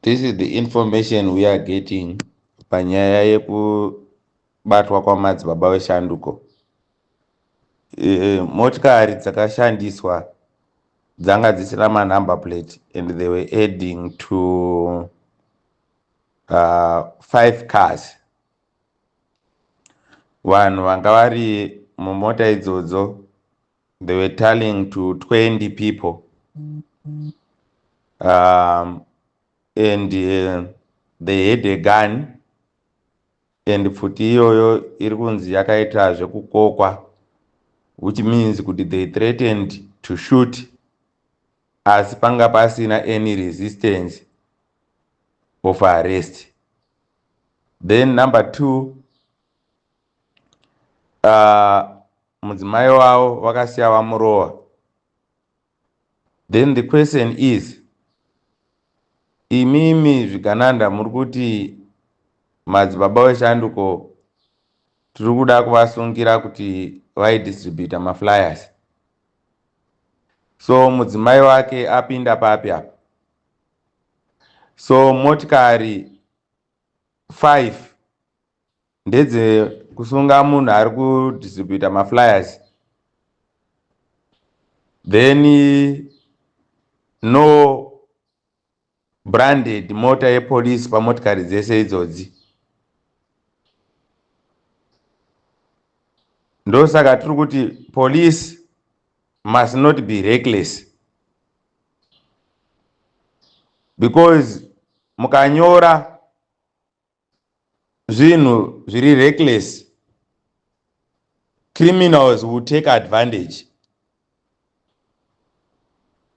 This is the information we are getting panyaya yekubatwa kwamadzibaba veshanduko. Eh, motikari dzakashandiswa dzanga dzisina manumber plate and they were adding to uh, five cars vanhu vanga vari mumota idzodzo they were telling to 20 people um, and uh, they had a gun and pfuti iyoyo iri kunzi yakaita zvekukokwa which means kuti they threatened to shoot asi panga pasina any resistance of arrest then number two uh, mudzimai wavo vakasiya vamurova then the question is imimi zvigananda muri kuti madzibaba weshanduko tiri kuda kuvasungira kuti vaidistributa maflyers so mudzimai wake apinda papi apa so motikari 5 ndedze kusunga munhu ari kudistributa maflyers then no branded mota yepolice pamotikari dzese idzodzi ndosaka tiri kuti police must not be reckless because mukanyora zvinhu zviri reckless criminals will take advantage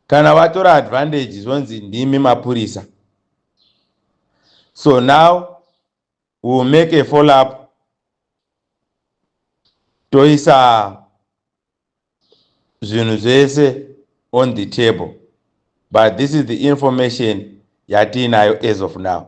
kana watora advantage zvonzi ndimi mapurisa so now we will make a follow up toisa zvinhu zvese on the table but this is the information yatiinayo as of now